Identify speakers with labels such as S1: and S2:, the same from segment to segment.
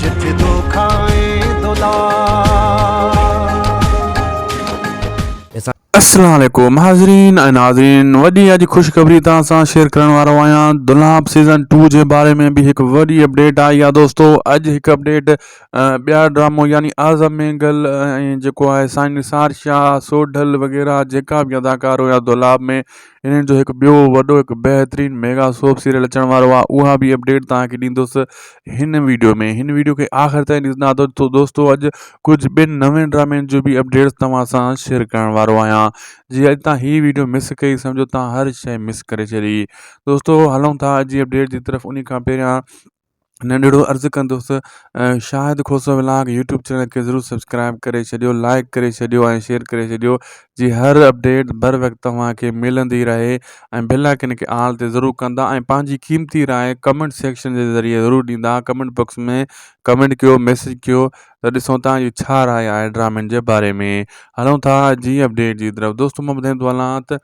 S1: جت دو کائين دولار. السلام عليڪم حاضرين ۽ ناظرين وڏي اڄ خوشخبري توهان سان شيئر ڪرڻ وارو آهيان دولاب سيزن ٽو جي باري ۾ به هڪ وڏي اپڊيٽ آئي آهي دوستو اڄ هڪ اپڊيٽ ٻيا ڊرامو يعني اعظم مينگل ۽ جيڪو آهي سائين نثار شاهه سوڍل وغيره جيڪا به اداڪار هيا دولاب ۾ انهن جو هڪ ٻيو وڏو هڪ بهترين ميگا سوپ سيريل اچڻ وارو آهي اها بي اپڊيٽ توهان کي ڏيندس هن ويڊيو ۾ هن ويڊيو کي آخر تائين ڏسندا ته تو دوستو اڄ ڪجهه ٻين نوين ڊرامين جو بي اپڊيٽس توهان سان شيئر ڪرڻ وارو آهيان جي اڄ تان هي ويڊيو مس ڪئي سمجهو تان هر شيء مس ڪري ڇڏي دوستو هلون ٿا اڄ جي اپڊيٽ جي طرف انهي کان پهريان ننڍڙو عرض ڪندس Shahid Khoso vlog YouTube channel کي ضرور سبسڪرائب ڪري ڇڏيو لائڪ ڪري ڇڏيو ۽ شيئر ڪري ڇڏيو جي هر اپڊيٽ بر وقت توهان کي ملندي رهي ۽ بل آئڪن کي آل تي ضرور ڪندا ۽ پنهنجي قيمتي راء ڪمنٽ سيڪشن جي ذريعي ضرور ڏيندا ڪمنٽ باڪس ۾ ڪمنٽ ڪيو ميسج ڪيو ته ڏسو تان جو ڇا راء آهي ڊرامن جي باري ۾ هلون ٿا جي اپڊيٽ جي طرف دوستو مان ٻڌائيندو هلان ته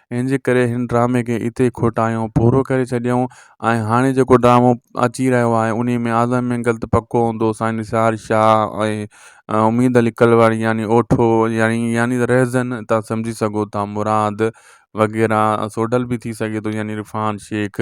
S1: ان جي ڪري هن ڊرامي کي اتي ئي کوٽايو پورو ڪري ڇڏيائون ۽ هاڻي جيڪو ڊرامو اچي رهيو آهي انهي ۾ اعظم مينگل ته پڪو هوندو سائين نثار شاهه ۽ اميد علي ڪلواڻي يعني اوٺو يعني يعني ته رهزن تان سمجهي سگهو ٿا مراد وغيره سوڍل به ٿي سگهي ٿو يعني عرفان شيخ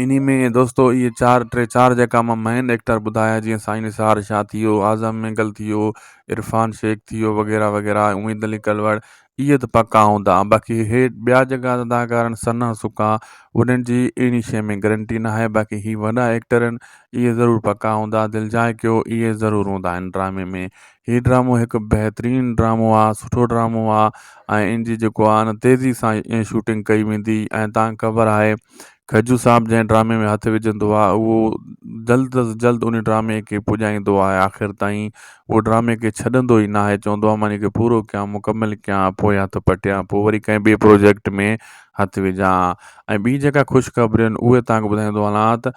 S1: انهي ۾ دوستو اهي چار ٽي چار جيڪا مان مين ايڪٽر ٻڌايا جيئن سائين نثار شاهه ٿي ويو اعظم مينگل ٿي ويو عرفان شيخ ٿي ويو وغيره وغيره اميد علي ڪلوڙ اهي ته پڪا هوندا باقي اهي ٻيا جيڪا اداڪار آهن سنا سڪا انهن جي اهڙي شيء ۾ گرنٽي نه آهي باقي هي وڏا ايڪٽر آهن اهي ضرور پڪا هوندا دلجاء ڪيو اهي ضرور هوندا آهن ڊرامي ۾ هي ڊرامو هڪ بهترين ڊرامو آ سٺو ڊرامو آ ۽ ان جي جيڪو آ نه تيزي سان شوٽنگ ڪئي ويندي ۽ تان خبر آهي کجو صاحب جنهن ڊرامي ۾ هٿ وجهندو آ اهو جلد از جلد ان ڊرامي کي پڄائيندو آ آخر تائين اهو ڊرامي کي ڇڏندو ئي ناهي چوندو آ مان ان کي پورو ڪيان مڪمل ڪيان پوء هٿ پٽيان پوء وري ڪنهن ٻي پروجيڪٽ ۾ هٿ وجهان ۽ ٻي جيڪا خوشخبرين اهي تان ٻڌائيندو هلان ته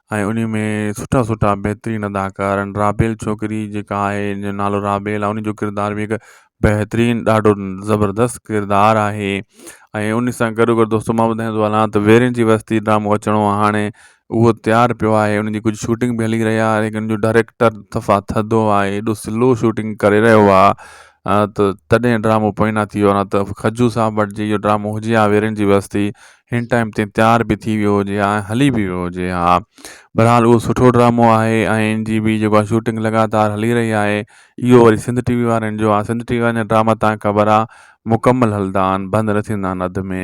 S1: ۽ انهي ۾ سٺا سٺا بهترين اداڪار آهن رابيل ڇوڪري جيڪا آهي ان جو نالو رابيل آهي ان جو ڪردار بي حد بهترين ڏاڍو زبردست ڪردار آهي ۽ ان سان گڏو گڏ دوستو مان ٻڌائيندو تو هلان ته ويرين جي وستي ڊرامو اچڻو آهي هاڻي اهو تيار پيو آهي ان جي ڪجهه شوٽنگ به هلي رهي آهي ليڪن ان جو ڊائريڪٽر صفا ٿڌو آهي ايڏو سلو شوٽنگ ڪري رهيو آهي ته تڏهن ڊرامو پوئنا ٿي ويو آهي نه ته کجو صاحب وٽ جي اهو ڊرامو هجي هان ويرين جي وستي هن ٽائيم تي تيار به ٿي ويو هجي ها ۽ هلي به ويو هجي ها بهرحال اهو سٺو ڊرامو آهي ۽ ان جي به جيڪو آهي شوٽنگ لڳاتار هلي رهي آهي اهو وري سنڌ ٽي وي وارن جو آهي سنڌ ٽي وي وارا ڊراما تان خبر آهي مڪمل هلندا آهن بند نه ٿيندا آهن اڌ ۾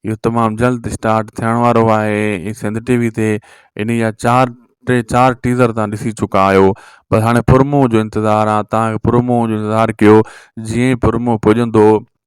S1: اهو تمام جلد اسٽارٽ ٿيڻ وارو آهي ۽ سنڌ ٽي وي تي ان جا چار ٽي چار ٽيزر تان ڏسي چڪا آهيو بس هاڻي پرمو جو انتظار آهي تان پرمو جو انتظار ڪيو جيئن پرمو پڄندو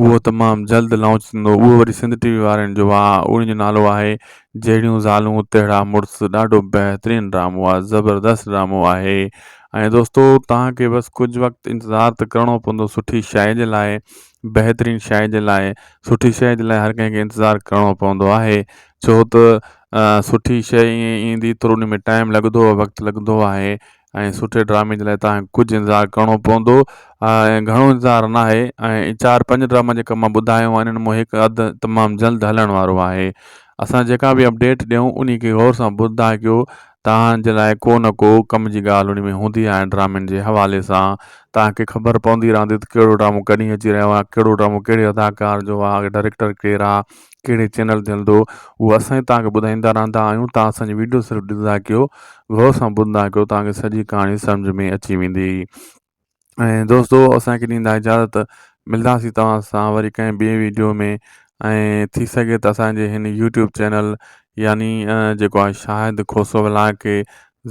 S1: اهو تمام جلد لانچ ٿيندو اهو وري سنڌ ٽي وي وارن جو آهي ان جو نالو آهي جهڙيون زالون تهڙا مڙس ڏاڍو بهترين ڊرامو آهي زبردست ڊرامو آهي ۽ دوستو توهان کي بس ڪجهه وقت انتظار ته ڪرڻو پوندو سٺي شاعر جي لاء بهترين شاعر جي لاء سٺي شاعر جي لاء هر ڪنهن کي انتظار ڪرڻو پوندو آهي ڇو ته سٺي شاعر ائين ايندي ٿورو ان ۾ ٽائم لڳندو وقت لڳندو آهي ۽ سٺي ڊرامي جي لاء تان کي ڪجهه انتظار ڪرڻو پوندو ۽ گهڻو انتظار ناهي ۽ چار پنج ڊراما جيڪا مان ٻڌايو آهن انهن مان هڪ اڌ تمام جلد هلڻ وارو آهي اسان جيڪا به اپڊيٽ ڏيون انهي کي غور سان ٻڌندا ڪيو تان جي لاء ڪو نه ڪو ڪم جي ڳالهه انهي ۾ هوندي آهي ڊرامن جي حوالي سان تان کي خبر پوندي رهندي ته ڪهڙو ڊرامو ڪڏهن اچي رهيو آهي ڪهڙو ڊرامو ڪهڙي اداڪار جو آهي ڊريڪٽر ڪير آهي ڪهڙي چينل تي هلندو اهو اسان ئي توهانکي ٻڌائيندا رهندا آهيون توهان اسانجي وڊيو صرف ڏسندا ڪيو غور سان ٻڌندا ڪيو توهانکي سڄي ڪهاڻي سمجهه ۾ اچي ويندي ۽ دوستو اسانکي ڏيندا اجازت ملنداسي توهان سان وري ڪنهن ٻي ويڊيو ۾ ۽ ٿي سگهي ته اسانجي هن يوٽيوب چينل يعني جيڪو آهي شاهد کوسو ولاگ کي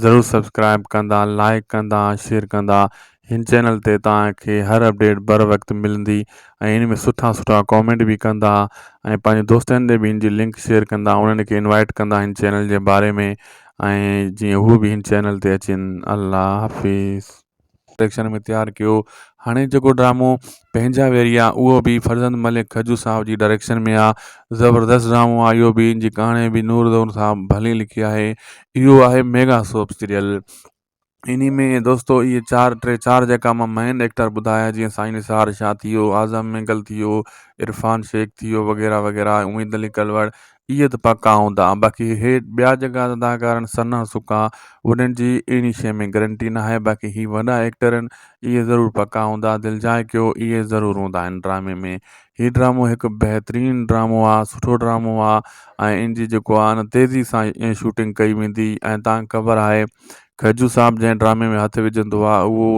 S1: ضرور سبسڪرائب ڪندا لائڪ ڪندا شيئر ڪندا هن چينل تي توهان کي هر اپڊيٽ بر وقت ملندي ۽ ان ۾ سٺا سٺا ڪامينٽ به ڪندا ۽ پنهنجي دوستن تي به ان جي لنڪ شيئر ڪندا انهن کي انوائيٽ ڪندا هن چينل جي باري ۾ ۽ جيئن هو به هن چينل تي اچين الله حافظ. ڊريڪشن ۾ تيار ڪيو هاڻي جيڪو ڊرامو پنهنجا ويري آ اهو به فرزند ملڪ کجو صاحب جي ڊريڪشن ۾ آ زبردست ڊرامو آ اهو به ان جي ڪهاڻي به نور دور صاحب ڀلي لکي آهي اهو آهي ميگا سوپ سيريل انهي ۾ دوستو اهي چار ٽي چار جيڪا مان مين ايڪٽر ٻڌايا جيئن سائين نثار شاهه ٿي ويو اعظم مينگل ٿي ويو عرفان شيخ ٿي ويو وغيره وغيره اميد علي ڪلوڙ اهي ته پڪا هوندا باقي هي ٻيا جيڪا اداڪار آهن ثنا سڪا انهن جي اهڙي شيء ۾ گرنٽي نه آهي باقي هي وڏا ايڪٽر آهن اهي ضرور پڪا هوندا دلجاء ڪيو اهي ضرور هوندا آهن ڊرامي ۾ هي ڊرامو هڪ بهترين ڊرامو آ سٺو ڊرامو آ ۽ ان جي جيڪو آ نه تيزي سان ۽ شوٽنگ ڪئي ويندي ۽ تان خبر آهي کجو صاحب جنهن ڊرامي ۾ هٿ وجهندو آ اهو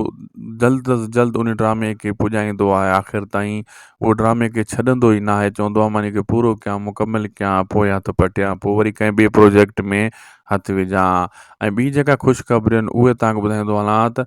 S1: جلد از جلد ان ڊرامي کي پڄائيندو آهي آخر تائين اهو ڊرامي کي ڇڏندو ئي ناهي چوندو آ مان ان کي پورو ڪيان مڪمل ڪيان پو هٿ پٽيا پو وري ڪنهن ٻي پروجيڪٽ ۾ هٿ وجهان ۽ ٻي جيڪا خوشخبرين اهي تان ٻڌائيندو هلان ته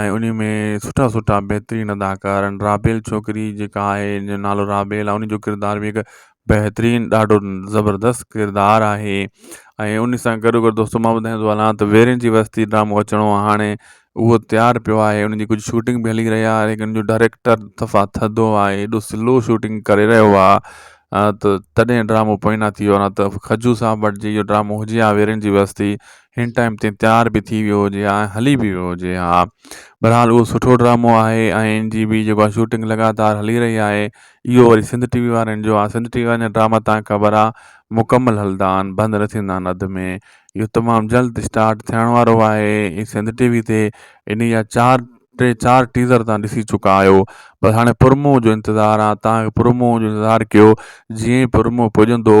S1: ۽ انهي ۾ سٺا سٺا بهترين اداڪار آهن رابيل ڇوڪري جيڪا آهي ان جو نالو رابيل آهي ان جو ڪردار بي حد بهترين ڏاڍو زبردست ڪردار آهي ۽ ان سان گڏو گڏ دوستو مان ٻڌائين ٿو هلان ته ويرين جي وستي ڊرامو اچڻو آهي هاڻي اهو تيار پيو آهي ان جي ڪجهه شوٽنگ به هلي رهي آهي ان جو ڊائريڪٽر صفا ٿڌو آهي ايڏو سلو شوٽنگ ڪري رهيو آهي ته تڏهن ڊرامو پوئنا ٿي ويو آهي نه ته کجو صاحب وٽ جي اهو ڊرامو هجي هان ويرين جي وستي هن ٽائيم تي تيار به ٿي ويو هجي ها ۽ هلي به ويو هجي ها بهرحال اهو سٺو ڊرامو آهي ۽ ان جي به جيڪو آهي شوٽنگ لڳاتار هلي رهي آهي اهو وري سنڌ ٽي وي وارن جو آهي سنڌ ٽي وي وارن جا ڊراما تان خبر آهي مڪمل هلندا آهن بند نه ٿيندا آهن اڌ ۾ اهو تمام جلد اسٽارٽ ٿيڻ وارو آهي ۽ سنڌ ٽي وي تي ان جا چار ٽي چار ٽيزر تان ڏسي چڪا آهيو بس هاڻي پرمو جو انتظار آهي تان پرمو جو انتظار ڪيو جيئن پرمو پڄندو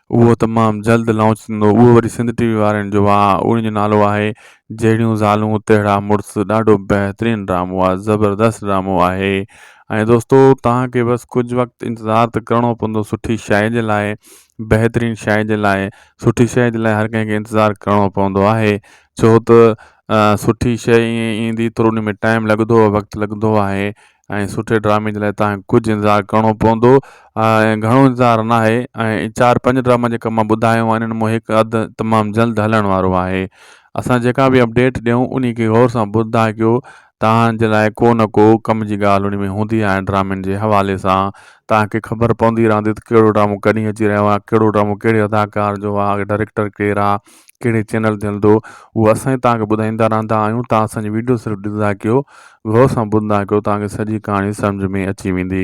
S1: اهو تمام جلد لانچ ٿيندو اهو وري سنڌ ٽي وي وارن جو آهي ان جو نالو آهي جهڙيون زالون تهڙا مڙس ڏاڍو بهترين ڊرامو آهي زبردست ڊرامو آهي ۽ دوستو توهان کي بس ڪجهه وقت انتظار ته ڪرڻو پوندو سٺي شاعري جي لاء بهترين شاعري جي لاء سٺي شاعري جي لاء هر ڪنهن کي انتظار ڪرڻو پوندو آهي ڇو ته سٺي شاعري ائين ايندي ٿورو ان ۾ ٽائيم لڳندو وقت لڳندو آهي ۽ سٺي ڊرامي جي لاء تان ڪجهه انتظار ڪرڻو پوندو ۽ گهڻو انتظار نه آهي ۽ چار پنج ڊراما جيڪا مان ٻڌايو آهن انهن مون هڪ اڌ تمام جلد هلڻ وارو آهي اسان جيڪا به اپڊيٽ ڏيون انهي کي غور سان ٻڌندا ڪيو تان جي لاء ڪو نه ڪو ڪم جي ڳالهه انهي ۾ هوندي آهي ڊرامن جي حوالي سان تان کي خبر پوندي رهندي ته ڪهڙو ڊرامو ڪڏهن اچي رهيو آهي ڪهڙو ڊرامو ڪهڙي اداڪار جو آهي ڊريڪٽر ڪير آهي ڪهڙي چينل تي هلندو اهو اسان ئي توهانکي ٻڌائيندا رهندا آهيون توهان اسانجي وڊيو صرف ڏسندا ڪيو غور سان ٻڌندا ڪيو توهانکي سڄي ڪهاڻي سمجهه ۾ اچي ويندي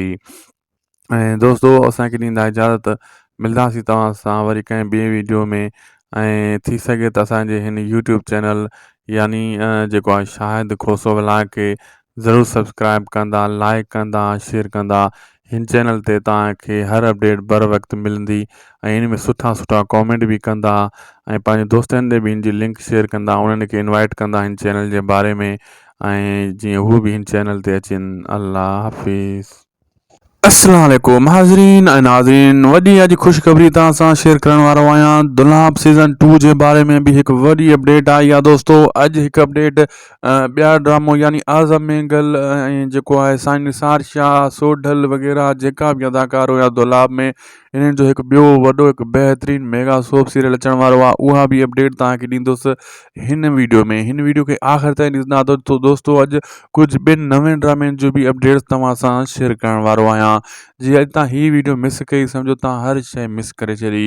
S1: ۽ دوستو اسانکي ڏيندا اجازت ملنداسي توهان سان وري ڪنهن ٻي ويڊيو ۾ ۽ ٿي سگهي ته اسانجي هن يوٽيوب چينل يعني جيڪو آهي شاهد کوسو ولاڪي ضرور سبسڪرائب ڪندا لائيڪ ڪندا شيئر ڪندا ھن چينل تي توھان کي ھر اپڊيٽ بر وقت ملندي ۽ ھن ۾ سٺا سٺا ڪامينٽ به ڪندا ۽ پنھنجي دوستن تي به ھن جي لنڪ شيئر ڪندا انھن کي انوائيٽ ڪندا ھن چينل جي باري ۾ ۽ جيئن ھو به ھن چينل تي اچين الله حافظ. اسلام عليڪم حاضرين ۽ ناظرين وڏي اڄ خوشخبري توهان سان شيئر ڪرڻ وارو آهيان دلاب سيزن ٽو جي باري ۾ به هڪ وڏي اپڊيٽ آئي آهي دوستو اڄ هڪ اپڊيٽ ٻيا ڊرامو يعني اعظم مينگل ۽ جيڪو آهي سائين نثار شاهه سوڍل وغيره جيڪا به اداڪار هيا دلاب ۾ انهن جو هڪ ٻيو وڏو هڪ بهترين ميگا سوپ سيريل اچڻ وارو آهي اها بي اپڊيٽ توهان کي ڏيندس هن ويڊيو ۾ هن ويڊيو کي آخر تائين ڏسندا ته تو دوستو اڄ ڪجهه ٻين نوين ڊرامين جو بي اپڊيٽ توهان سان شيئر ڪرڻ وارو آهيان جي اڄ تان هي ويڊيو مس ڪئي سمجهو توهان هر شيء مس ڪري ڇڏي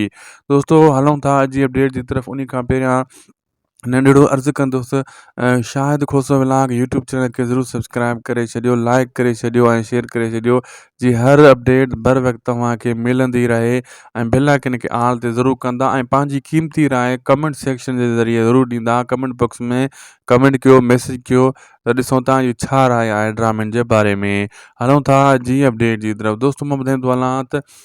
S1: دوستو هلون ٿا اڄ جي اپڊيٽ جي طرف انهي کان پهريان ننڍڙو عرض ڪندس Shahid Khoso vlog YouTube channel کي ضرور سبسڪرائب ڪري ڇڏيو لائڪ ڪري ڇڏيو ۽ شيئر ڪري ڇڏيو جي هر اپڊيٽ بر وقت توهان کي ملندي رهي ۽ بل آئڪن کي آل تي ضرور ڪندا ۽ پنهنجي قيمتي راء ڪمنٽ سيڪشن جي ذريعي ضرور ڏيندا ڪمنٽ باڪس ۾ ڪمنٽ ڪيو ميسج ڪيو ته ڏسو تان جو ڇا راء آهي ڊرامن جي باري ۾ هلون ٿا جي اپڊيٽ جي طرف دوستو مان ٻڌائيندو هلان ته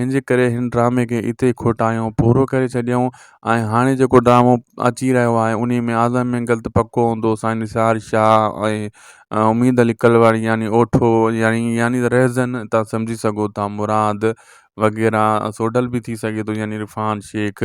S1: ان جي ڪري هن ڊرامي کي اتي ئي کوٽايو پورو ڪري ڇڏيائون ۽ هاڻي جيڪو ڊرامو اچي رهيو آهي انهي ۾ اعظم مينگل ته پڪو هوندو سائين نثار شاهه ۽ اميد علي ڪلواڻي يعني اوٺو يعني يعني ته رهزن تان سمجهي سگهو ٿا مراد وغيره سوڍل به ٿي سگهي ٿو يعني عرفان شيخ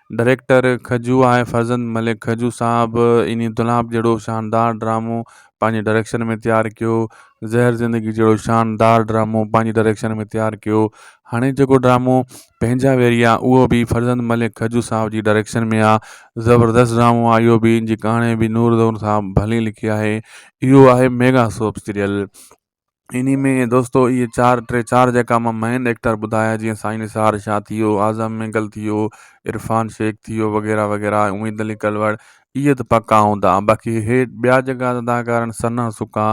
S1: ڊائريڪٽر کجو آهي فرزند ملڪ کجو صاحب اني دولاب جهڙو شاندار ڊرامو پنهنجي ڊائريڪشن ۾ تيار ڪيو زهر زندگي جهڙو شاندار ڊرامو پنهنجي ڊائريڪشن ۾ تيار ڪيو هاڻي جيڪو ڊرامو پنهنجا ويري آ اهو به فرزند ملڪ کجو صاحب جي ڊائريڪشن ۾ آ زبردست ڊرامو آ اهو به ان جي ڪهاڻي به نور زهور صاحب ڀلي لکي آهي اهو آهي ميگا سوپ سيريل انهي ۾ دوستو اهي چار ٽي چار جيڪا مان مين ايڪٽر ٻڌايا جيئن سائين نثار شاهه ٿي ويو اعظم مينگل ٿي ويو عرفان شيخ ٿي ويو وغيره وغيره اميد علي ڪلوڙ اهي ته پڪا هوندا باقي اهي ٻيا جيڪا اداڪار آهن سنا سڪا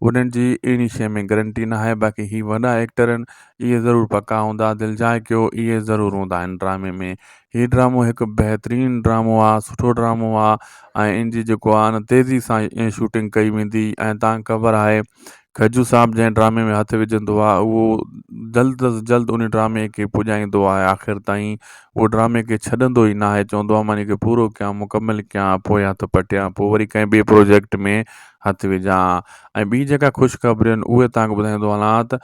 S1: انهن جي اهڙي شيء ۾ گرنٽي نه آهي باقي هي وڏا ايڪٽر آهن اهي ضرور پڪا هوندا دلجاء ڪيو اهي ضرور هوندا آهن ڊرامي ۾ هي ڊرامو هڪ بهترين ڊرامو آ سٺو ڊرامو آ ۽ ان جي جيڪو آ نه تيزي سان شوٽنگ ڪئي ويندي ۽ تان خبر آهي کجو صاحب جنهن ڊرامي ۾ هٿ وجهندو آ اهو جلد از جلد ان ڊرامي کي پڄائيندو آ آخر تائين اهو ڊرامي کي ڇڏندو ئي ناهي چوندو آ مان ان کي پورو ڪيان مڪمل ڪيان پوء هٿ پٽيان پوء وري ڪنهن ٻي پروجيڪٽ ۾ هٿ وجهان ۽ ٻي جيڪا خوشخبرين اهي تان ٻڌائيندو هلان ته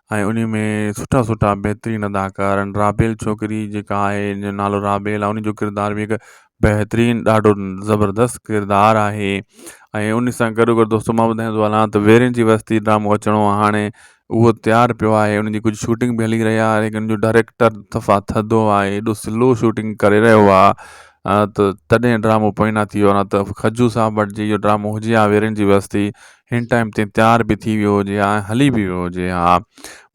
S1: ۽ انهي ۾ سٺا سٺا بهترين اداڪار آهن رابيل ڇوڪري جيڪا آهي ان جو نالو رابيل آهي ان جو ڪردار بي حد بهترين ڏاڍو زبردست ڪردار آهي ۽ ان سان گڏو گڏ دوستو مان ٻڌائيندو تو هلان ته ويرين جي وستي ڊرامو اچڻو آهي هاڻي اهو تيار پيو آهي ان جي ڪجهه شوٽنگ به هلي رهي آهي ان جو ڊائريڪٽر صفا ٿڌو آهي ايڏو سلو شوٽنگ ڪري رهيو آهي ته تڏهن ڊرامو پوئنا ٿي ويو آهي نه ته خجو صاحب وٽ جي اهو ڊرامو هجي هان ويرين جي وستي هن ٽائيم تي تيار به ٿي ويو هجي ها ۽ هلي به ويو هجي ها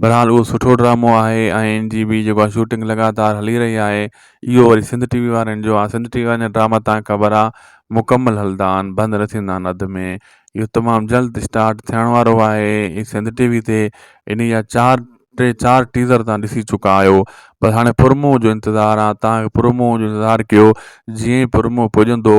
S1: بھرحال اهو سٺو ڊرامو آهي ۽ ان جي به جيڪو آهي شوٽنگ لڳاتار هلي رهي آهي اهو وري سنڌ ٽي وي وارن جو آهي سنڌ ٽي وي وارا ڊراما تان خبر آهي مڪمل هلدا آهن بند نه ٿيندا آهن اڌ ۾ اهو تمام جلد اسٽارٽ ٿيڻ وارو آهي هي سنڌ ٽي وي تي ان جا چار ٽي چار ٽيزر تان ڏسي چڪا آهيو بس هاڻي پرومو جو انتظار آهي تان پرومو جو انتظار ڪيو جيئن پرومو پڄندو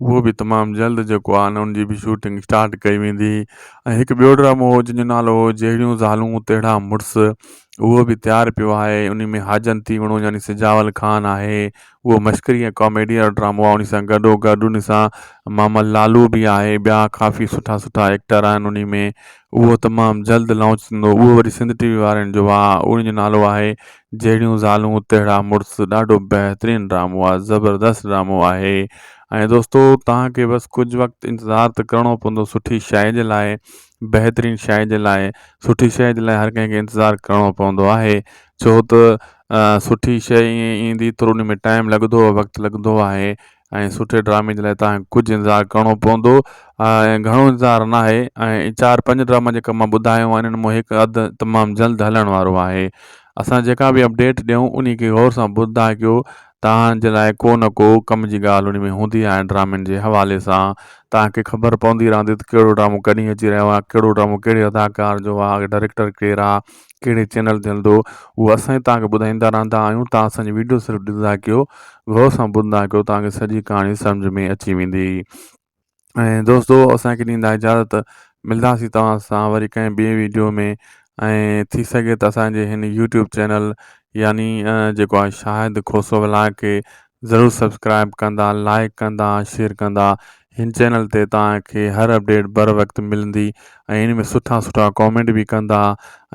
S1: اهو به تمام جلد جيڪو آهي ان جي به شوٽنگ اسٽارٽ ڪئي ويندي ۽ هڪ ٻيو ڊرامو هو جنهنجو نالو هو جهڙيون زالون تهڙا مڙس اهو به تيار پيو آهي ان ۾ حاجن ٿي وڻو يعني سجاول خان آهي اهو مشڪري ۽ ڪاميڊي وارو ڊرامو آهي ان سان گڏو گڏ ان سان محمد لالو به آهي ٻيا ڪافي سٺا سٺا ايڪٽر آهن ان ۾ اهو تمام جلد لانچ ٿيندو اهو وري سنڌ ٽي وي وارن جو آهي ان جو نالو آهي جهڙيون زالون تهڙا مڙس ڏاڍو بهترين ڊرامو آ زبردست ڊرامو آهي ۽ دوستو توهان کي بس ڪجهه وقت انتظار ته ڪرڻو پوندو سٺي شئي جي لاء بهترين شئي جي لاء سٺي شئي جي لاء هر ڪنهن کي انتظار ڪرڻو پوندو آهي ڇو ته سٺي شئي ائين ايندي ٿورو ان ۾ ٽائيم لڳندو وقت لڳندو آهي ۽ سٺي ڊرامي جي لاء تان کي ڪجهه انتظار ڪرڻو پوندو ۽ گهڻو انتظار ناهي ۽ چار پنج ڊراما جيڪا مان ٻڌايو آهن انهن مان هڪ اڌ تمام جلد هلڻ وارو آهي اسان جيڪا به اپڊيٽ ڏيون انهي کي غور سان ٻڌندا ڪيو تان جي لاء ڪو نه ڪو ڪم جي ڳالهه انهي ۾ هوندي آهي ڊرامن جي حوالي سان تان کي خبر پوندي رهندي ته ڪهڙو ڊرامو ڪڏهن اچي رهيو آهي ڪهڙو ڊرامو ڪهڙي اداڪار جو آهي ڊريڪٽر ڪير آهي ڪهڙي چينل تي هلندو اهو اسان ئي توهان کي ٻڌائيندا رهندا آهيون تان اسان جي وڊيو صرف ڏسندا ڪيو غور سان ٻڌندا ڪيو توهان کي سڄي ڪهاڻي سمجهه ۾ اچي ويندي ۽ دوستو اسان کي ڏيندا اجازت ملنداسي توهان سان وري ڪنهن ٻي ويڊيو ۾ ۽ ٿي سگهي ته اسانجي هن يوٽيوب چينل يعني جيڪو آهي شاهد کوسو ولاگ کي ضرور سبسڪرائب ڪندا لائڪ ڪندا شيئر ڪندا هن چينل تي توهان کي هر اپڊيٽ بر وقت ملندي ۽ ان ۾ سٺا سٺا ڪامينٽ به ڪندا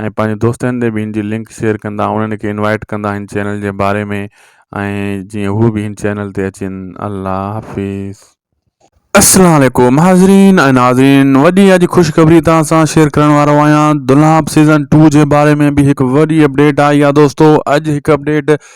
S1: ۽ پنهنجي دوستن تي به هن جي لنڪ شيئر ڪندا انهن کي انوائيٽ ڪندا هن چينل جي باري ۾ ۽ جيئن هو به هن چينل تي اچين الله حافظ. السلام عليڪم حاضرين ۽ ناظرين وڏي اڄ خوشخبري توهان سان شيئر ڪرڻ وارو آهيان دولاب سيزن ٽو جي باري ۾ به هڪ وڏي اپڊيٽ آئي آهي دوستو اڄ هڪ اپڊيٽ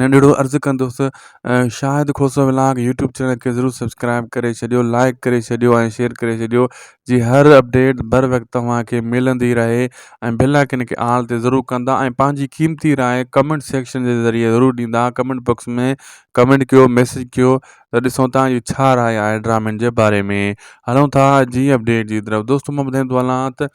S1: ننڍڙو عرض ڪندس Shahid Khoso vlog YouTube channel کي ضرور سبسڪرائب ڪري ڇڏيو لائڪ ڪري ڇڏيو ۽ شيئر ڪري ڇڏيو جي هر اپڊيٽ بر وقت توهان کي ملندي رهي ۽ بيل آئڪن کي آل تي ضرور ڪندا ۽ پنهنجي قيمتي راء ڪمنٽ سيڪشن جي ذريعي ضرور ڏيندا ڪمنٽ باڪس ۾ ڪمنٽ ڪيو ميسج ڪيو ته ڏسو تان جو ڇا راء آهي ڊرامن جي باري ۾ هلون ٿا جي اپڊيٽ جي طرف دوستو مان ٻڌائيندو هلان ته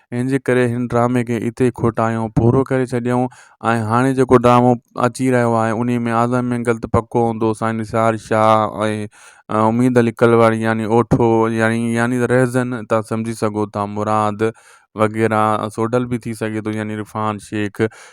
S1: ان جي ڪري هن ڊرامي کي اتي ئي کوٽايو پورو ڪري ڇڏيائون ۽ هاڻي جيڪو ڊرامو اچي رهيو آهي انهي ۾ آدم مينگل ته پڪو هوندو سائين نثار شاهه ۽ اميد علي ڪلواڻي يعني اوٺو يعني يعني ته رهزن تان سمجهي سگهو ٿا مراد وغيره سوڍل به ٿي سگهي ٿو يعني عرفان شيخ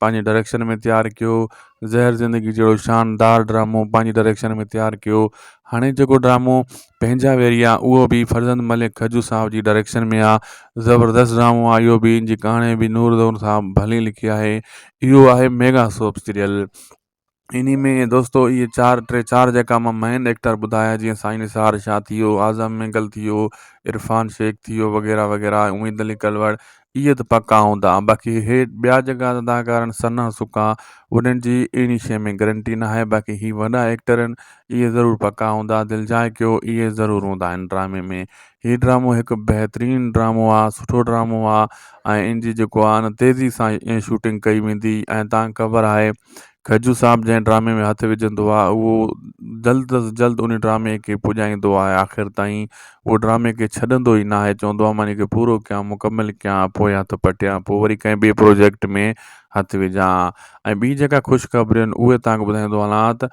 S1: پنهنجي ڊائريڪشن ۾ تيار ڪيو زهر زندگي جهڙو شاندار ڊرامو پنهنجي ڊائريڪشن ۾ تيار ڪيو هاڻي جيڪو ڊرامو پنهنجا ويري آ اهو بي فرزند ملڪ کجو صاحب جي ڊائريڪشن ۾ آ زبردست ڊرامو آ اهو بي ان جي ڪهاڻي بي نور دور صاحب ڀلي لکي آهي اهو آهي ميگا سوپ سيريل انهي ۾ دوستو اهي چار ٽي چار جيڪا مان مين ايڪٽر ٻڌايا جيئن سائين نثار شاهه ٿي ويو اعظم مينگل ٿي ويو عرفان شيخ ٿي ويو وغيره وغيره اميد علي ڪلوڙ اهي ته پڪا هوندا باقي هي ٻيا جيڪا اداڪار آهن سنا سڪا انهن جي اهڙي شيء ۾ گرنٽي نه آهي باقي هي وڏا ايڪٽر آهن اهي ضرور پڪا هوندا دلجاء ڪيو اهي ضرور هوندا آهن ڊرامي ۾ هي ڊرامو هڪ بهترين ڊرامو آ سٺو ڊرامو آ ۽ ان جي جيڪو آ نه تيزي سان شوٽنگ ڪئي ويندي ۽ تان خبر آهي کجو صاحب جنهن ڊرامي ۾ هٿ وجهندو آ اهو جلد از جلد ان ڊرامي کي پڄائيندو آهي آخر تائين اهو ڊرامي کي ڇڏندو ئي ناهي چوندو آ مان ان کي پورو ڪيا مڪمل ڪيا پوء هٿ پٽيا پوء وري ڪنهن ٻي پروجيڪٽ ۾ هٿ وجهان ۽ ٻي جيڪا خوشخبرين اهي تان ٻڌائيندو هلان ته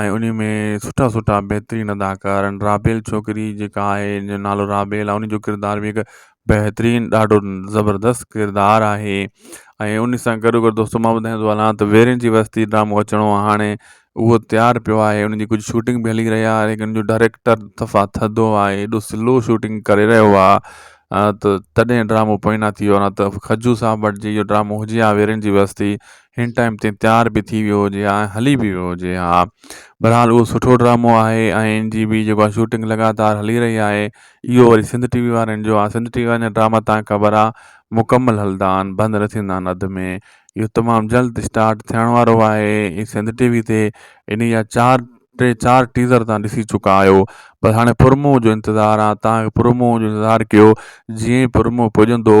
S1: ۽ انهي ۾ سٺا سٺا بهترين اداڪار آهن رابيل ڇوڪري جيڪا آهي ان جو نالو رابيل آهي ان جو ڪردار بي حد بهترين ڏاڍو زبردست ڪردار آهي ۽ ان سان گڏو گڏ دوستو مان ٻڌائين ٿو هلان ته ويرين جي وستي ڊرامو اچڻو آهي هاڻي اهو تيار پيو آهي ان جي ڪجهه شوٽنگ به هلي رهي آهي ان جو ڊائريڪٽر صفا ٿڌو آهي ايڏو سلو شوٽنگ ڪري رهيو آهي ته تڏهن ڊرامو پوئنا ٿي ويو آهي نه ته کجو صاحب وٽ جي اهو ڊرامو هجي هان ويرين جي وستي هن ٽائيم تي تيار به ٿي ويو هجي ها ۽ هلي به ويو هجي ها بھرحال اهو سٺو ڊرامو آهي ۽ ان جي به جيڪو آهي شوٽنگ لڳاتار هلي رهي آهي اهو وري سنڌ ٽي وي وارن جو آهي سنڌ ٽي وي وارن جا ڊراما تان خبر آهي مڪمل هلدا آهن بند نه ٿيندا آهن اڌ ۾ اهو تمام جلد اسٽارٽ ٿيڻ وارو آهي ۽ سنڌ ٽي وي تي ان جا چار ٽي چار ٽيزر تان ڏسي چڪا آهيو بس هاڻي پرومو جو انتظار آهي تان پرومو جو انتظار ڪيو جيئن پرومو پڄندو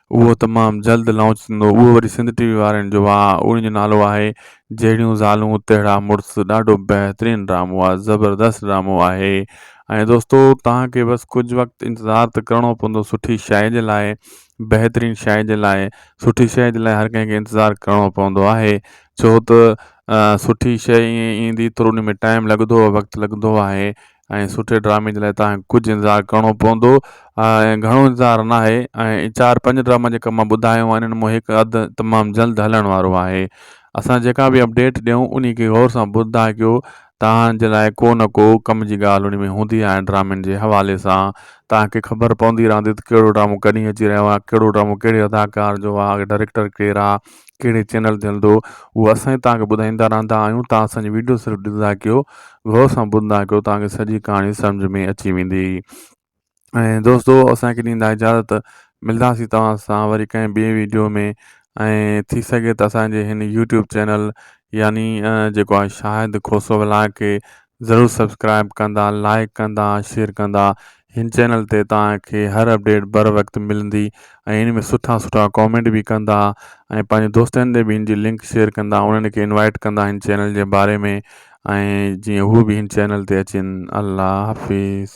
S1: اهو تمام جلد لانچ ٿيندو اهو وري سنڌ ٽي وي وارن جو آهي ان جو نالو آهي جهڙيون زالون تهڙا مڙس ڏاڍو بهترين ڊرامو آهي زبردست ڊرامو آهي ۽ دوستو توهان کي بس ڪجهه وقت انتظار ته ڪرڻو پوندو سٺي شاعري جي لاء بهترين شاعري جي لاء سٺي شاعري جي لاء هر ڪنهن کي انتظار ڪرڻو پوندو آهي ڇو ته سٺي شاعري ائين ايندي ٿورو ان ۾ ٽائيم لڳندو وقت لڳندو آهي ۽ سٺي ڊرامي جي لاء تان کي ڪجهه انتظار ڪرڻو پوندو ۽ گهڻو انتظار ناهي ۽ چار پنج ڊراما جيڪا مان ٻڌايو آهن انهن مان هڪ اڌ تمام جلد هلڻ وارو آهي اسان جيڪا به اپڊيٽ ڏيون انهي کي غور سان ٻڌندا ڪيو تان جي لاء ڪو نه ڪو ڪم جي ڳالهه انهي ۾ هوندي آهي ڊرامن جي حوالي سان تان کي خبر پوندي رهندي ته ڪهڙو ڊرامو ڪڏهن اچي رهيو آهي ڪهڙو ڊرامو ڪهڙي اداڪار جو آهي ڊريڪٽر ڪير آهي ڪهڙي چينل تي هلندو اهو اسان ئي توهانکي ٻڌائيندا رهندا آهيون توهان اسانجي وڊيو صرف ڏسندا ڪيو غور سان ٻڌندا ڪيو توهانکي سڄي ڪهاڻي سمجهه ۾ اچي ويندي ۽ دوستو اسانکي ڏيندا اجازت ملنداسي توهان سان وري ڪنهن ٻي ويڊيو ۾ ۽ ٿي سگهي ته اسانجي هن يوٽيوب چينل يعني جيڪو آهي شاهد کوسو ولاڪي ضرور سبسڪرائب ڪندا لائيڪ ڪندا شيئر ڪندا هن چينل تي توهان کي هر اپڊيٽ بر وقت ملندي ۽ هن ۾ سٺا سٺا ڪامينٽ به ڪندا ۽ پنهنجي دوستن تي به هن جي لنڪ شيئر ڪندا انهن کي انوائيٽ ڪندا هن چينل جي باري ۾ ۽ جيئن هو به هن چينل تي اچين الله حافظ.